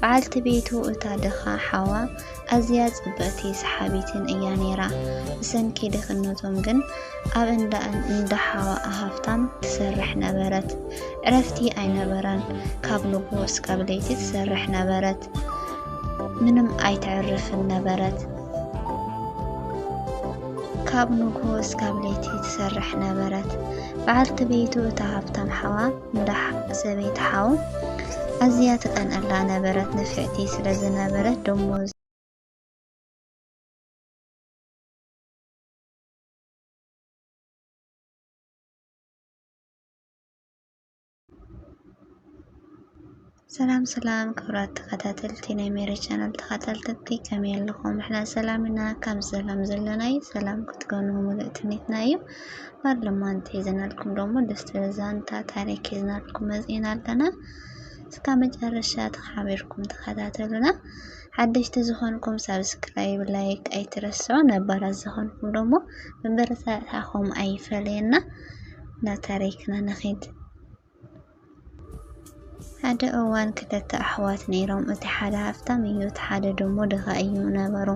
በዓልቲ ቤቱ እታ ድኻ ሓዋ ኣዝያ ጽብቕቲ ሰሓቢትን እያ ነይራ። ብሰንኪ ድኽነቶም ግን ኣብ እንዳ እንዳ ሓዋኣ ሃብታም ትሰርሕ ነበረት። ዕረፍቲ ኣይነበራን። ካብ ንግሆ እስካብ ለይቲ ትሰርሕ ነበረት። ምንም ኣይተዕርፍን ነበረት። ካብ ንግሆ እስካብ ለይቲ ትሰርሕ ነበረት። በዓልቲ ቤቱ እታ ሃብታም ሓዋ እንዳ ሰበይቲ ሓው ኣዝያ ትቀንኣላ ነበረት ንፍዕቲ ስለ ዝነበረት ደሞዝ ሰላም ሰላም ክብራት ተኸታተልቲ ናይ ሜሪ ቻናል ተኸታተልቲ ከመይ ኣለኹም? ንሕና ሰላም ኢና ካብ ሰላም ዘለና እዩ ሰላም ክትኮኑ ሙሉእ ትምኒትና እዩ። ባር ለማንቲ ሒዘናልኩም ደሞ ደስ ትብል ዛንታ ታሪክ ሒዝናልኩም መፂና ኣለና። እስካብ መጨረሻ ተሓቢርኩም ተኸታተሉና። ሓደሽቲ ዝኾንኩም ሳብስክራይብ ላይክ ኣይትረስዑ። ነባራት ዝኾንኩም ደሞ መበረታትዕኹም ኣይፈለየና። ናብ ታሪክና ንኺድ። ሓደ እዋን ክልተ ኣሕዋት ነይሮም። እቲ ሓደ ሃብታም እዩ፣ እቲ ሓደ ደሞ ድኻ እዩ ነበሩ።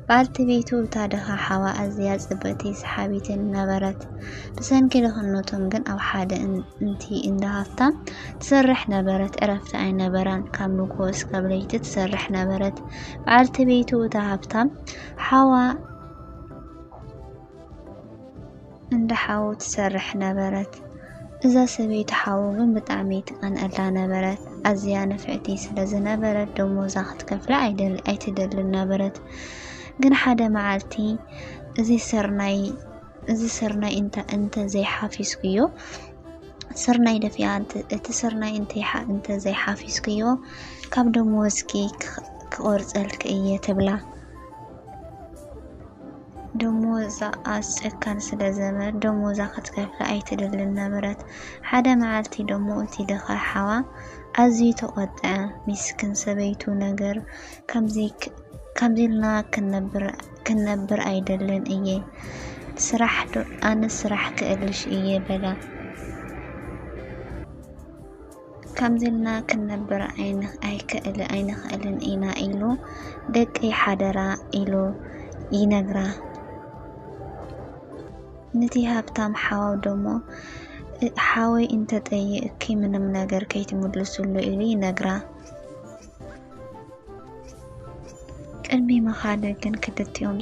በዓልቲ ቤቱ እታ ድኻ ሓዋ ኣዝያ ጽብቕቲ ሰሓቢትን ነበረት። ብሰንኪ ድኽነቶም ግን ኣብ ሓደ እንቲ እንዳ ሃብታም ትሰርሕ ነበረት። ዕረፍቲ ኣይነበራን፣ ካብ ንግሆ እስካብ ለይቲ ትሰርሕ ነበረት። በዓልቲ ቤቱ እታ ሃብታም ሓዋ እንዳ ሓዉ ትሰርሕ ነበረት። እዛ ሰበይቲ ሓዉ ግን ብጣዕሚ ትቀንኣላ ነበረት። ኣዝያ ንፍዕቲ ስለ ዝነበረት ደሞዛ ክትከፍላ ኣይትደልን ነበረት። ግን ሓደ መዓልቲ እዚ ስርናይ እዚ ስርናይ እንተ ዘይሓፊስኩዮ ስርናይ ደፊኣ እቲ ስርናይ እንተ ዘይሓፊስክዮ ካብ ደመወዝኪ ክቆርፀልኪ እየ ትብላ። ደሞዛ ኣስጨካን ስለ ዘበር ደሞዛ ክትከፍላ ኣይትደልን ነበረት። ሓደ መዓልቲ ደሞ እቲ ድኻ ሓዋ ኣዝዩ ተቆጥዐ። ሚስክን ሰበይቱ ነገር ከምዚ ኢልና ክንነብር ኣይደልን እየ ስራሕ ዶ ኣነ ስራሕ ክእልሽ እየ በላ። ከምዚ ኢልና ክንነብር ኣይንኽእልን ኢና ኢሉ ደቀይ ሓደራ ኢሉ ይነግራ። ነቲ ሃብታም ሓው ደሞ ሓወይ እንተጠይቅኪ ምንም ነገር ከይትምልስሉ ኢሉ ይነግራ። ቅድሚ ምኻደ ግን ክልቲኦም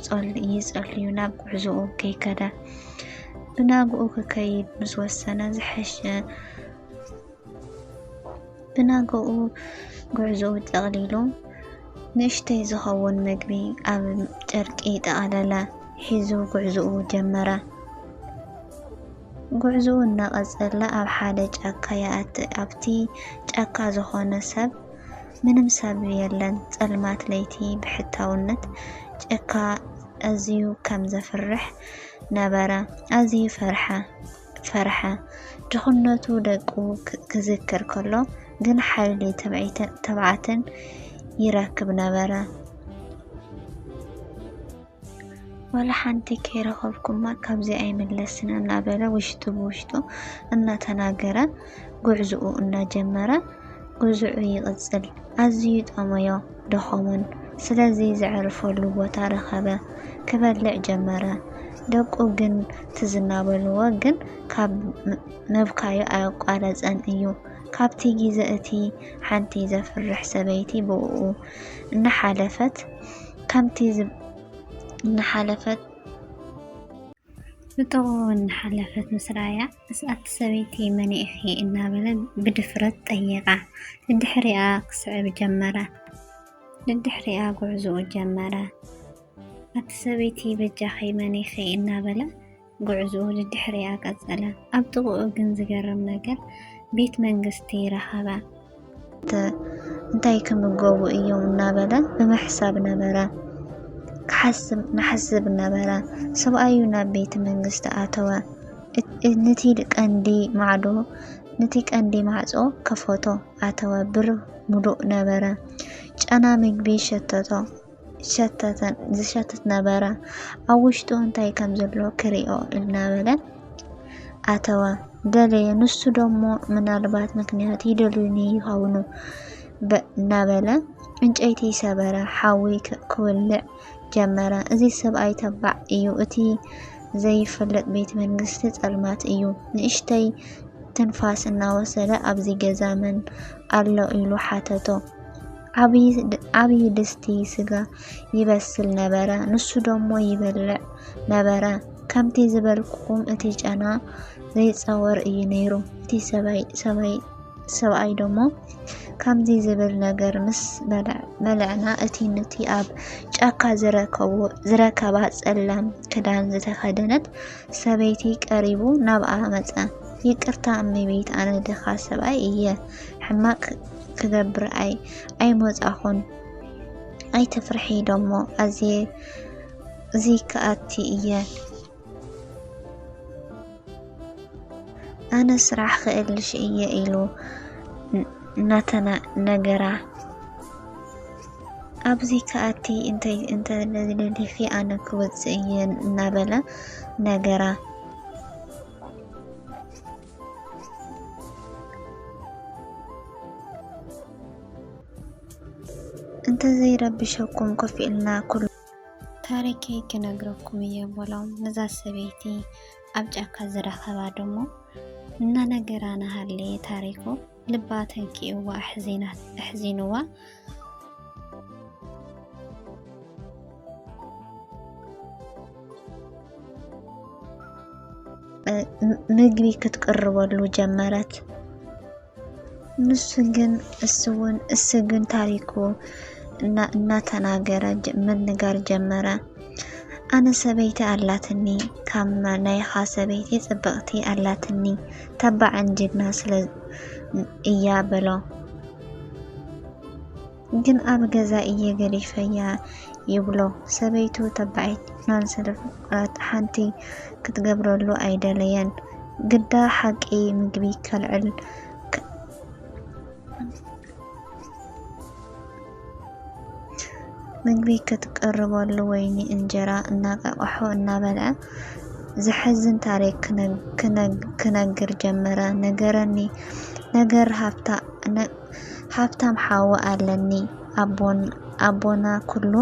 ይጸልዩ ናብ ጉዕዞኡ ከይከደ ብናግኡ ክከይድ ምስ ወሰነ ዝሐሸ ብነገኡ ጉዕዞኡ ጠቕሊሉ ንእሽተይ ዝኸውን ምግቢ ኣብ ጨርቂ ጠቐለለ ሒዙ ጉዕዞኡ ጀመረ። ጉዕዞኡ እናቐጸለ ኣብ ሓደ ጫካ ይኣቲ። ኣብቲ ጫካ ዝኾነ ሰብ ምንም ሰብ የለን። ጸልማት ለይቲ ብሕታውነት ጨካ ኣዝዩ ከም ዘፍርሕ ነበረ። ኣዝዩ ፈርሐ። ፈርሐ። ድኽነቱ ደቁ ክዝክር ከሎ ግን ሓይሊ ትብዓትን ይረክብ ነበረ። ዋላ ሓንቲ ከይረኸብኩማ ካብዚ ኣይምለስን እናበለ ውሽጡ ብውሽጡ እናተናገረ ጉዕዝኡ እናጀመረ ጉዝዑ ይቕጽል። ኣዝዩ ጠመዮ፣ ደኸሞን፣ ስለዚ ዘዕርፈሉ ቦታ ረኸበ። ክበልዕ ጀመረ። ደቁ ግን ትዝ እናበልዎ ግን ካብ ምብካዩ ኣየቋረጸን እዩ። ካብቲ ግዜ እቲ ሓንቲ ዘፍርሕ ሰበይቲ ብእኡ እናሓለፈት ከምቲ እናሓለፈት ብጥቕኡ እናሓለፈት ምስ ረኣያ፣ እዛ'ቲ ሰበይቲ መን ኢኺ? እናበለ ብድፍረት ጠየቓ። ደድሕሪኣ ክስዕብ ጀመረ። ደድሕሪኣ ጉዕዞኡ ጀመረ። ኣቲ ሰበይቲ በጃኺ መን ኢኺ? እናበለ ጉዕዞኡ ደድሕሪኣ ቀጸለ። ኣብ ጥቕኡ ግን ዝገርም ነገር ቤት መንግስቲ ረኸበ። እንታይ ክምገቡ እዮም እናበለ ብምሕሳብ ነበረ ክሓስብ ንሓስብ ነበረ። ሰብኣዩ ናብ ቤተ መንግስቲ ኣተወ። ነቲ ቀንዲ ማዕዶ ነቲ ቀንዲ ማዕጾ ከፈቶ ኣተወ። ብር ምሉእ ነበረ። ጨና ምግቢ ሸተቶ። ዝሸትት ነበረ። ኣብ ውሽጡ እንታይ ከም ዘሎ ክሪኦ እናበለ ኣተወ ደለየ። ንሱ ደሞ ምናልባት ምክንያት ይደልዩኒ ይኸውኑ እናበለ ዕንጨይቲ ሰበረ፣ ሓዊ ክውልዕ ጀመረ። እዚ ሰብኣይ ተባዕ እዩ፣ እቲ ዘይፈለጥ ቤት መንግስቲ ጸልማት እዩ። ንእሽተይ ትንፋስ እናወሰደ ኣብዚ ገዛ መን ኣሎ ኢሉ ሓተቶ። ዓብዪ ድስቲ ስጋ ይበስል ነበረ፣ ንሱ ደሞ ይበልዕ ነበረ። ከምቲ ዝበልኩኹም እቲ ጨና ዘይጸወር እዩ ነይሩ። እቲ ሰብኣይ ደሞ ከምዚ ዝብል ነገር ምስ በልዕና እቲ ንቲ ኣብ ጫካ ዝረከባ ጸላም ክዳን ዝተኸደነት ሰበይቲ ቀሪቡ ናብኣ መጸ። ይቅርታ እመቤት ኣነ ድኻ ሰብኣይ እየ ሕማቅ ክገብር ኣይ ኣይመጻኹን ኣይትፍርሒ ዶሞ ኣዝየ እዙይ ክኣቲ እየ ኣነ ስራሕ ክእልሽ እየ ኢሉ ናተና ነገራ ኣብዚ ክኣቲ እንታይ እንተደሊኺ ኣነ ክወፅእ እየ እናበለ ነገራ እንተዘይረብሸኩም ኮፍ ኢልና ኩሉ ታሪከይ ክነግረኩም እየ በሎም። ነዛ ሰበይቲ ኣብ ጫካ ዝረኸባ ደሞ እናነገራ ናሃለየ ታሪኩ ልባ ተንኪእዋ ኣሕዚናት ኣሕዚንዋ ምግቢ ክትቅርበሉ ጀመረት። ንሱ ግን እሱ እውን እሱ ግን ታሪኩ እና- እናተናገረ ጀ- ምንጋር ጀመረ። ኣነ ሰበይቲ ኣላትኒ ካብ ናይኻ ሰበይቲ ጽብቕቲ ኣላትኒ ተባዕን ጅግና ስለ እያ በሎ። ግን ኣብ ገዛ እየ ገዲፈያ ይብሎ። ሰበይቱ ተባዕን ጅግናን ስለ ፍቁራት ሓንቲ ክትገብረሉ ኣይደለየን። ግዳ ሓቂ ምግቢ ከልዕል ምግቢ ከትቅርበሉ ወይኒ እንጀራ እናቃቀሑ እናበልዐ ዘሕዝን ታሪክ ክነግር ጀመረ። ነገረኒ ነገር ሃብታም ሓው ኣለኒ ኣቦና ኩሉ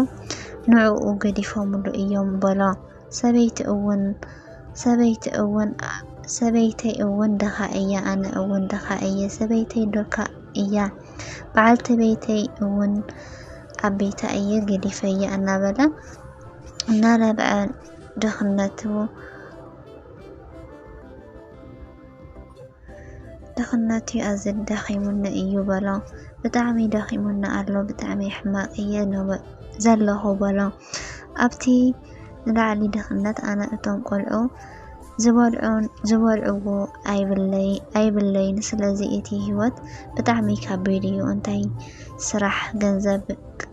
ንዕኡ ገዲፎምሉ እዮም በሎ። ሰበይቲ እውን ሰበይቲ እውን ሰበይተይ እውን ደኻ እያ ኣነ እውን ደኻ እየ ሰበይተይ ዶካ እያ በዓልቲ ቤተይ እውን ኣብ ቤታ እየ ገዲፈያ እናበለ እናረብዐ ድኽነቱ ድኽነቱ ኣዝዩ ደኺሙኒ እዩ በሎ። ብጣዕሚ ደኺሙኒ ኣሎ ብጣዕሚ ሕማቕ እየ ዘለኹ በሎ። ኣብቲ ንላዕሊ ድኽነት ኣነ እቶም ቆልዑ ዝበልዕዎ ኣይብለይን ስለዚ እቲ ሂወት ብጣዕሚ ካቢድ እዩ እንታይ ስራሕ ገንዘብ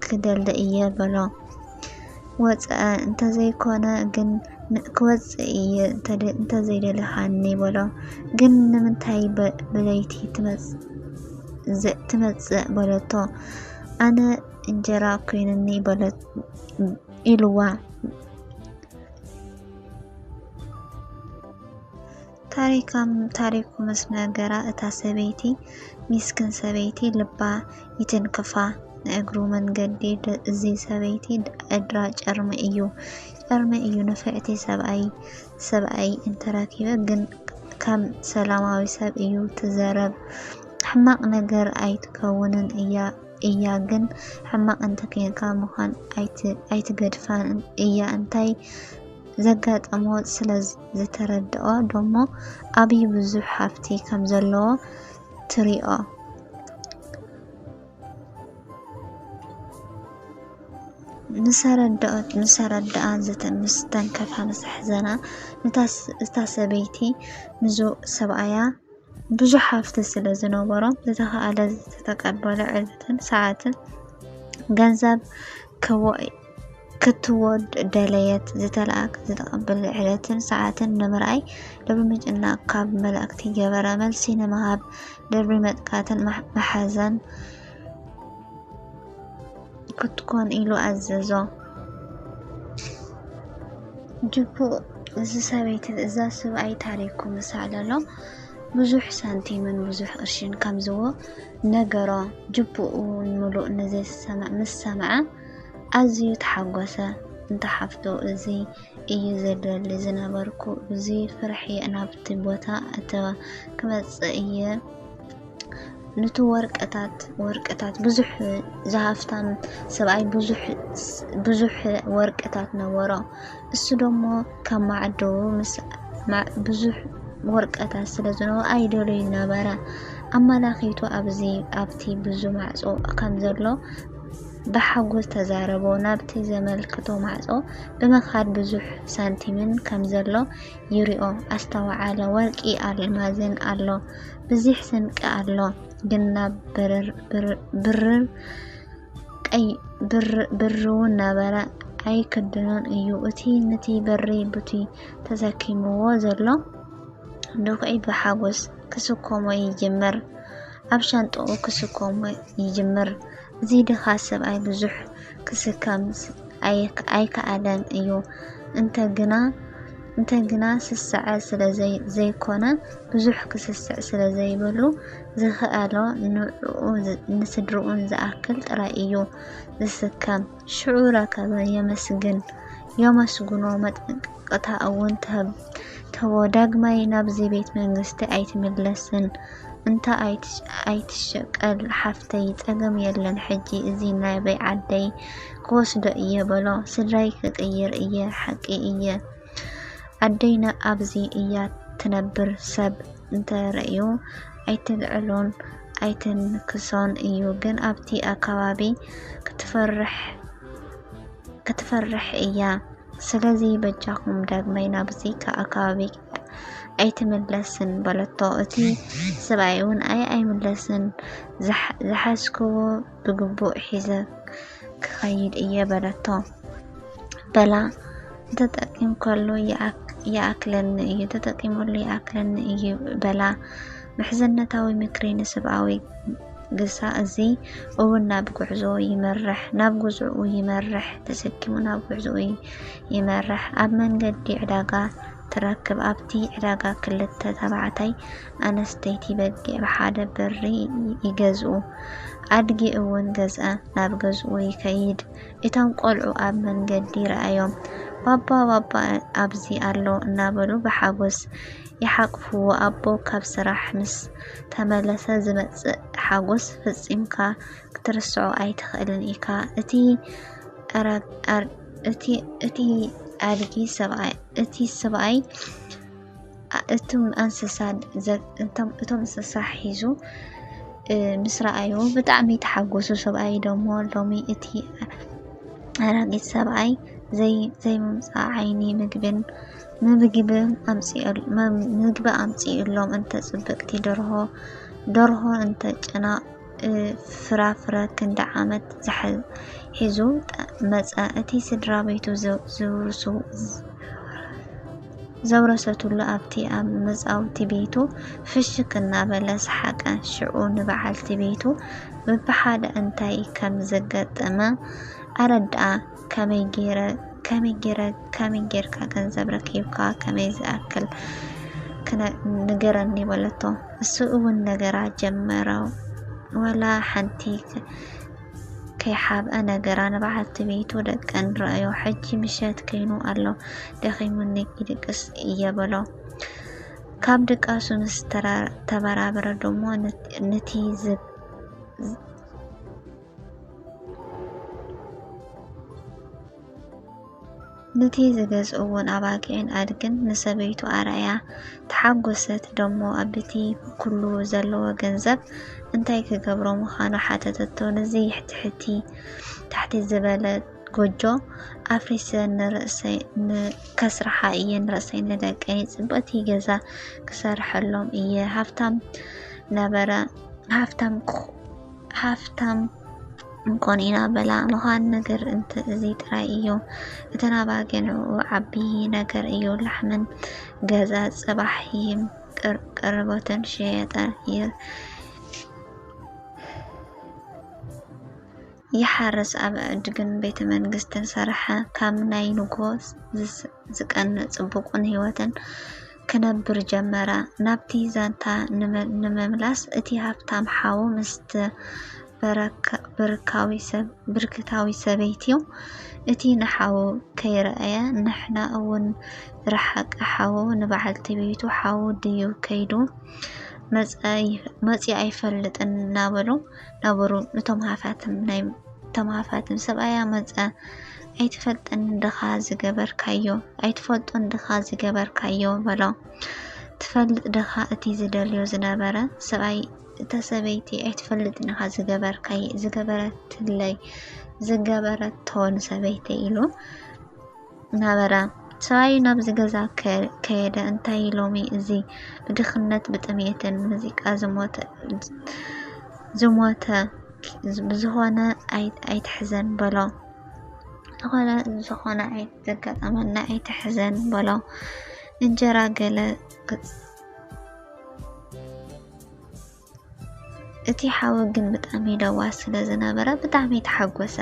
ክደሊ እየ በሎ ወፀ እንተዘይኮነ ግን ክወፅእ እየ እንተዘይደለኻኒ በሎ ግን ንምንታይ ብለይቲ ትመፅእ በለቶ ኣነ እንጀራ ኮይኑኒ በለት ኢልዋ ታሪካ ታሪኩ ምስ ነገራ እታ ሰበይቲ ሚስክን ሰበይቲ ልባ ይትንክፋ ንእግሩ መንገዲ ደ- እዚ ሰበይቲ ዕድራ ጨርሚ እዩ ጨርሚ እዩ ንፍዕቲ ሰብኣይ ሰብኣይ እንተረኪበ ግን ከም ሰላማዊ ሰብ እዩ ትዘረብ ሕማቅ ነገር ኣይትከውንን እያ እያ ግን ሕማቅ እንተ ኬንካ ምኳን ኣይትገድፋን እያ እንታይ ዘጋጠሞ ስለ ዝተረደኦ ዶሞ ኣብይ ብዙሕ ሃፍቲ ከም ዘለዎ ትሪኦ። ምሰረደኣ ምስተንከፋ ምሰሕዘና እታ ሰበይቲ ንዙ ሰብኣያ ብዙሕ ሃፍቲ ስለ ዝነበሮም ዝተኸኣለ ዝተቀበለ ዕለትን ሰዓትን ገንዘብ ከዋኢ ክትወድ ደለየት ዝተለኣክ ዝተቐበለ ዕለትን ሰዓትን ንምርኣይ ልቢ ምጭናቕ ካብ መላእክቲ ገበረ መልሲ ንምሃብ ድሪ መጥቃትን መሓዘን ክትኮን ኢሉ ኣዘዞ። ጅቡእ እዚ ሰበይቲ እዛ ስብኣይ ታሪኩ ምስ ኣዕለሎ ብዙሕ ሳንቲምን ብዙሕ ቅርሽን ከምዝዎ ነገሮ። ጅቡኡ ሙሉእ ነዚ ዝሰምዕ ምስ ሰምዐ ኣዝዩ ተሓጎሰ። እንተ ሓፍቱ እዚ እዩ ዘደሊ ዝነበርኩ እዚ ፍርሒ ናብቲ ቦታ እተ ክመጽእ እየ ኑቲ ወርቅታት ወርቅታት ብዙሕ ዝሃፍታም ሰብኣይ ብዙሕ ብዙሕ ወርቅታት ነበሮ። እሱ ደሞ ካብ ማዕዶ ምስ ብዙሕ ወርቀታት ስለ ዝነበ ኣይደለዩ ነበረ ኣመላኺቱ ኣብዚ ኣብቲ ብዙ ማዕጾ ከም ዘሎ ብሓጎስ ተዛረቦ ናብቲ ዘመልክቶ ማዕጾ ብምኻድ ብዙሕ ሳንቲምን ከም ዘሎ ይሪኦ ኣስተውዓለ ወርቂ ኣልማዝን ኣሎ ብዚሕ ስንቂ ኣሎ ግን ናብ ብርርብርውን ነበረ ኣይክድኖን እዩ እቲ ንቲ በሪ ቡቲ ተሰኪምዎ ዘሎ ድኹዒ ብሓጎስ ክስኮሞ ይጅምር ኣብ ሻንጥኡ ክስኮሞ ይጅምር እዚ ድኻ ሰብኣይ ብዙሕ ክስከም ኣይከኣለን እዩ። እንተ ግና እንተ ግና ስሰዐ ስለ ዘይኮነ ብዙሕ ክስስዕ ስለ ዘይብሉ ዝኸኣሎ ንዕኡ ንስድርኡን ዝኣክል ጥራይ እዩ ዝስከም። ሽዑ ረከበ የመስግን የመስግኖ መጠንቀ ስቅታ እውን ትህቦ ዳግማይ ናብዚ ቤት መንግስቲ ኣይትምለስን እንታ ኣይትሸቀል ሓፍተይ ጸገም የለን ሕጂ እዚ ናበይ ዓደይ ክወስዶ እየ በሎ ስድራይ ክቅይር እየ ሓቂ እየ ኣደይና ኣብዚ እያ ትነብር ሰብ እንተረእዩ ኣይትልዕሎን ኣይትንክሶን እዩ ግን ኣብቲ ኣካባቢ ክትፈርሕ ክትፈርሕ እያ ስለዚ በጃኹም ዳግማይ ናብዚ ኣከባቢ ኣይትምለስን በለቶ። እቲ ሰብኣይ'ውን ኣይ ኣይምለስን፣ ዝሓዝክዎ ብግቡእ ሒዘ ክኸይድ እየ በለቶ። በላ ተጠቂምካሉ ይኣክለኒ እዩ ተጠቂመሉ ይኣክለኒ እዩ በላ። ምሕዝነታዊ ምክሪ ንስብኣዊ ግሳ እዚ እውን ናብ ጉዕዞ ይመርሕ፣ ናብ ጉዝኡ ይመርሕ፣ ተሰኪሙ ናብ ጉዕዞኡ ይመርሕ። ኣብ መንገዲ ዕዳጋ ትረክብ፣ ኣብቲ ዕዳጋ ክልተ ተባዕታይ ኣነስተይቲ በጊዕ ብሓደ ብሪ ይገዝኡ፣ ኣድጊ እውን ገዝኣ ናብ ገዝኡ ይከይድ። እቶም ቆልዑ ኣብ መንገዲ ረኣዮም ባባ ባባ ኣብዚ ኣሎ እናበሉ ብሓጎስ ይሓቕፍዎ ኣቦ ካብ ስራሕ ምስ ተመለሰ ዝመጽእ ሓጎስ ፈጺምካ ክትርስዖ ኣይትኽእልን ኢካ እቲ እቲ ኣድጊ ሰብኣይ እቲ ሰብኣይ እቶም ኣንስሳ እቶም እንስሳ ሒዙ ምስ ረኣዩ ብጣዕሚ ተሓጎሱ ሰብኣይ ደሞ ሎሚ እቲ ኣረጊት ሰብኣይ ዘይምምፃእ ዓይኒ ምግብን ምግቢ ኣምፅእሎም እንተ ፅብቅቲ ደርሆ ደርሆ እንተ ጨና ፍራፍረ ክንዲ ዓመት ሒዙ መፀ እቲ ስድራ ቤቱ ዝውርሱ ዘውረሰትሉ ኣብቲ ኣብ መጻውቲ ቤቱ ፍሽክ እናበለ ሰሓቀ። ሽዑ ንበዓልቲ ቤቱ ብብሓደ እንታይ ከም ዘጋጠመ ኣረድኣ። ከመይ ጌረ ከመይ ጌረ ከመይ ጌርካ ገንዘብ ረኪብካ ከመይ ዝኣክል ክነ ንገረኒ በለቶ። እሱ እውን ነገራ ጀመረ ወላ ሓንቲ ከይሓብአ ነገራ ንበዓልቲ ቤቱ ደቀን ረኣዮ። ሕጂ ምሸት ከይኑ ኣሎ ደኺሙኒ ይድቅስ እየ በሎ። ካብ ድቃሱ ምስ ተራ- ተበራበረ ደሞ ነት- ነቲ ዝብ ንቲ ዝገዝእዎን ኣባጊዕን ኣድግን ንሰበይቱ ኣርኣያ ተሓጎሰት ደሞ ኣብቲ ኩሉ ዘለዎ ገንዘብ እንታይ ክገብሮ ምዃኑ ሓተተቶ ነዚ ትሕቲ ታሕቲ ዝበለ ጎጆ ኣፍሪሰ ንርእሰይ ከስርሓ እየ ንርእሰይ ንደቀይ ጽብቕቲ ገዛ ክሰርሐሎም እየ ሃብታም ነበረ ሃብታም ሃፍታም እንኮን ኢና በላ ምዃን ነገር እንተ እዚ ጥራይ እዩ እተን ኣባጊዕ ንኡ ዓቢ ነገር እዩ ላሕመን ገዛ ጽባሕ ይም ቀረቦተን ሸየጠ ይር ይሓርስ ኣብ ዕድግን ቤተ መንግስትን ሰርሐ ካብ ናይ ንጎ ዝቀንእ ጽቡቁን ህይወትን ክነብር ጀመረ። ናብቲ ዛንታ ንምምላስ፣ እቲ ሃብታም ሓው ምስቲ ብርክታዊት ሰበይቲ'ዩ። እቲ ንሓዉ ከይረኣየ ንሕና እውን ዝረሓቀ ሓዉ ንበዓልቲ ቤቱ ሓዉ ድዩ ከይዱ መጺኡ ኣይፈልጥን እናበሉ ነበሩ። እቶም ሃፋትም ሰብኣያ መጸ። ኣይትፈልጥን ድኻ ዝገበርካዮ፣ ኣይትፈልጡን ድኻ ዝገበርካዮ በሎ። ትፈልጥ ድኻ እቲ ዝደልዮ ዝነበረ ሰብኣይ እታ ሰበይቲ ኣይትፈልጥን ኢኻ ዝገበርካይ ዝገበረትለይ ዝገበረቶ ንሰበይቲ ኢሉ ነበረ። ሰብኣዩ ናብዚ ገዛ ከየደ እንታይ ሎሚ እዚ ብድኽነት ብጥሜትን ሙዚቃ ዝሞተ ዝሞተ ብዝኾነ ኣይትሕዘን በሎ። ዝኾነ ዝኾነ ኣይተጋጠመና ኣይትሕዘን በሎ እንጀራ ገለ እቲ ሓዊ ግን ብጣዕሚ ለዋስ ስለ ዝነበረ ብጣዕሚ ተሓጎሰ።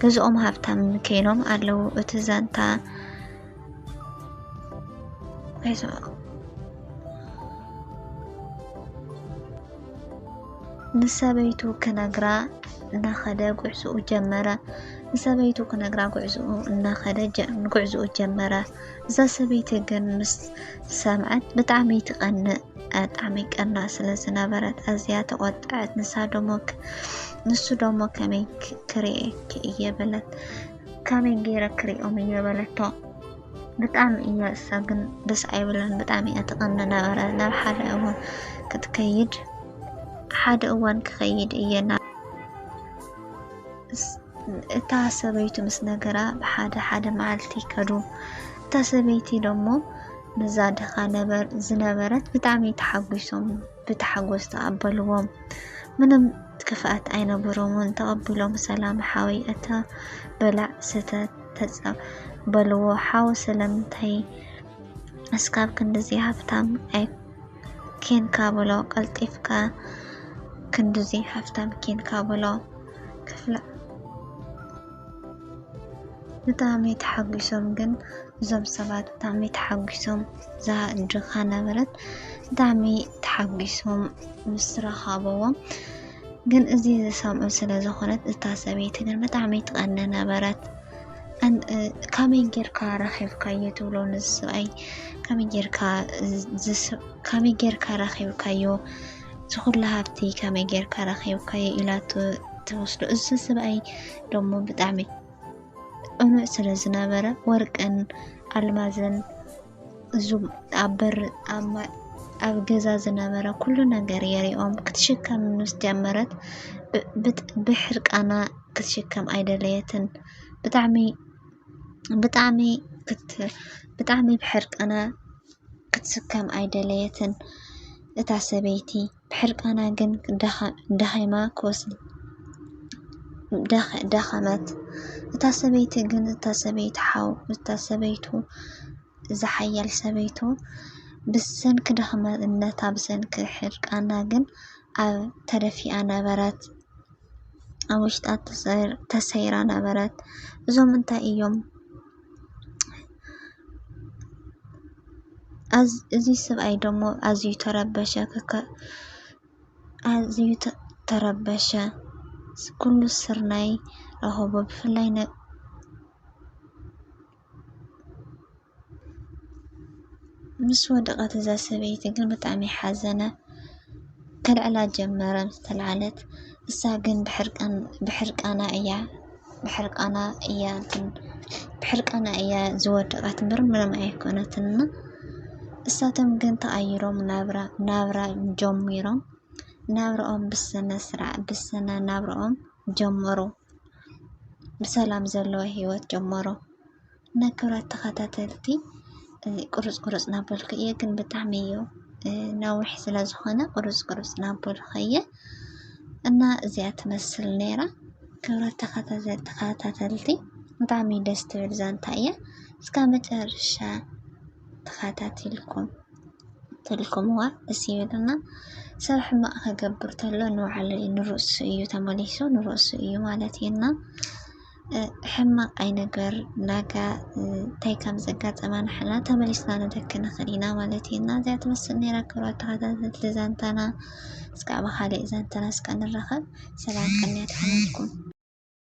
ገዝኦም ሃብታም ከይኖም ኣለዉ። እቲ ዛንታ ምስ ሰበይቱ ክነግራ እናኸደ ጉዕዝኡ ጀመረ። ንሰበይቱ ክነግራ ጉዕዝኡ እናኸደ ጉዕዝኡ ጀመረ። እዛ ሰበይቲ ግን ምስ ሰምዐት ብጣዕሚ ትቐንእ ብጣዕሚ ቀና ስለ ዝነበረት ኣዝያ ተቆጠዐት። ንሳ ደሞ ንሱ ደሞ ከመይ ክርእየኪ እየ በለት ከመይ ገይረ ክርእዮም እየ በለቶ። ብጣዕሚ እያ እሳ ግን ደስ ኣይብላን ብጣዕሚ እያ ትቐኒ ነበረ ናብ ሓደ እዋን ክትከይድ ሓደ እዋን ክኸይድ እየ ናብ እታ ሰበይቱ ምስ ነገራ ብሓደ ሓደ መዓልቲ ከዱ እታ ሰበይቲ ደሞ ነዛ ድኻ ነበር ዝነበረት ብጣዕሚ ተሓጒሶም ብታሓጎስ ተቀበልዎም ምንም ክፍኣት ኣይነበሮምን ተቀቢሎም ሰላም ሓወይ ኣታ በላዕ ስተ ተጻ በልዎ ሓው ስለምንታይ እስካብ ክንድዚ ሃብታም ኣይ ኬንካ በሎ ቀልጢፍካ ክንድዚ ሃፍታም ኬንካ በሎ ክፍለ ብጣዕሚ ተሓጉሶም ግን እዞም ሰባት ብጣዕሚ ተሓጉሶም እዛ ድኻ ነበረት ብጣዕሚ ተሓጉሶም ምስ ረኸብዎም ግን እዚ ዝሰምዑ ስለ ዝኾነት እታ ሰበይቲ ግን ብጣዕሚ ትቐኒ ነበረት። ኣን- እ፣ ከመይ ጌርካ ረኺብካዮ ትብሎ ንዝሰብኣይ ከመይ ጌርካ ዝስ- ከመይ ጌርካ ረኺብካዮ እዚ ኩሉ ሃብቲ ከመይ ጌርካ ረኺብካዮ ኢላቶ ትወስዶ እዚ ሰብኣይ ደሞ ብጣዕሚ ቅኑዕ ስለ ዝነበረ ወርቅን ኣልማዝን እዙም ኣብ በር ኣብ ገዛ ዝነበረ ኩሉ ነገር የሪኦም ክትሽከም ምስ ጀመረት ብሕርቃና ክትሽከም ኣይደለየትን ብጣዕሚ ብጣዕሚ ብጣዕሚ ብሕርቃና ክትስከም ኣይደለየትን እታ ሰበይቲ ብሕርቃና ግን ደኺማ ክወስድ ደኸመት እታ ሰበይቲ ግን እታ ሰበይቲ ሓው እታ ሰበይቱ እዛ ሓያል ሰበይቱ ብሰንኪ ደኽመነታ ብሰንኪ ሕርቃና ግን ኣብ ተደፊኣ ነበረት ኣብ ውሽጣ ተሰይራ ነበረት እዞም እንታይ እዮም እዚ ሰብኣይ ደሞ ኣዝዩ ተረበሸ ክክ ኣዝዩ ተረበሸ ኩሉ ስርናይ ረከቦ ብፍላይ ን ምስ ወደቐት እዛ ሰበይቲ ግን ብጣዕሚ ሓዘነ። ከልዕላ ጀመረ ምስ ተልዓለት እሳ ግን ብሕርቃን ብሕርቃና እያ ብሕርቃና እያ እንትን ብሕርቃና እያ ዝወደቐት እምበር ምንም ኣይኮነትን እና እሳቶም ግን ተቐይሮም ናብራ ናብራ ጀሚሮም ናብርኦም ብስነ ስርዓት ብስነ ናብርኦም ጀመሩ። ብሰላም ዘለዎ ህይወት ጀመሩ። እና ክብራት ተኸታተልቲ እዚ ቁርፅ ቁርፅ ናበልኩ እየ ግን ብጣዕሚ እዩ ነዊሕ ስለ ዝኾነ ቁርፅ ቁርፅ ናበልኩ እየ እና እዚኣ ትመስል ነይራ ክብራት ተኸታተልቲ ብጣዕሚ ደስ ትብል ዛንታ እያ እስካ መጨረሻ ተኸታቲልኩም ትልኩምዋ ደስ ይብልና ሰብ ሕማቅ ከገብር ተሎ ንባዕሉ ንርእሱ እዩ ተመሊሱ ንርእሱ እዩ ማለት እዩና ሕማቅ ኣይንግበር ዳጋ እንታይ ከም ዘጋጠማ ንሕና ተመሊስና ንተኪ ንክእል ኢና ማለት እዩ እና እዚኣ ትመስል ነይራ ክብራት ተከታተልቲ ዛንታና እስከ ኣብ ካሊእ ዛንታና እስከ ንራከብ ሰላም ቅንያት ይኩነልኩም።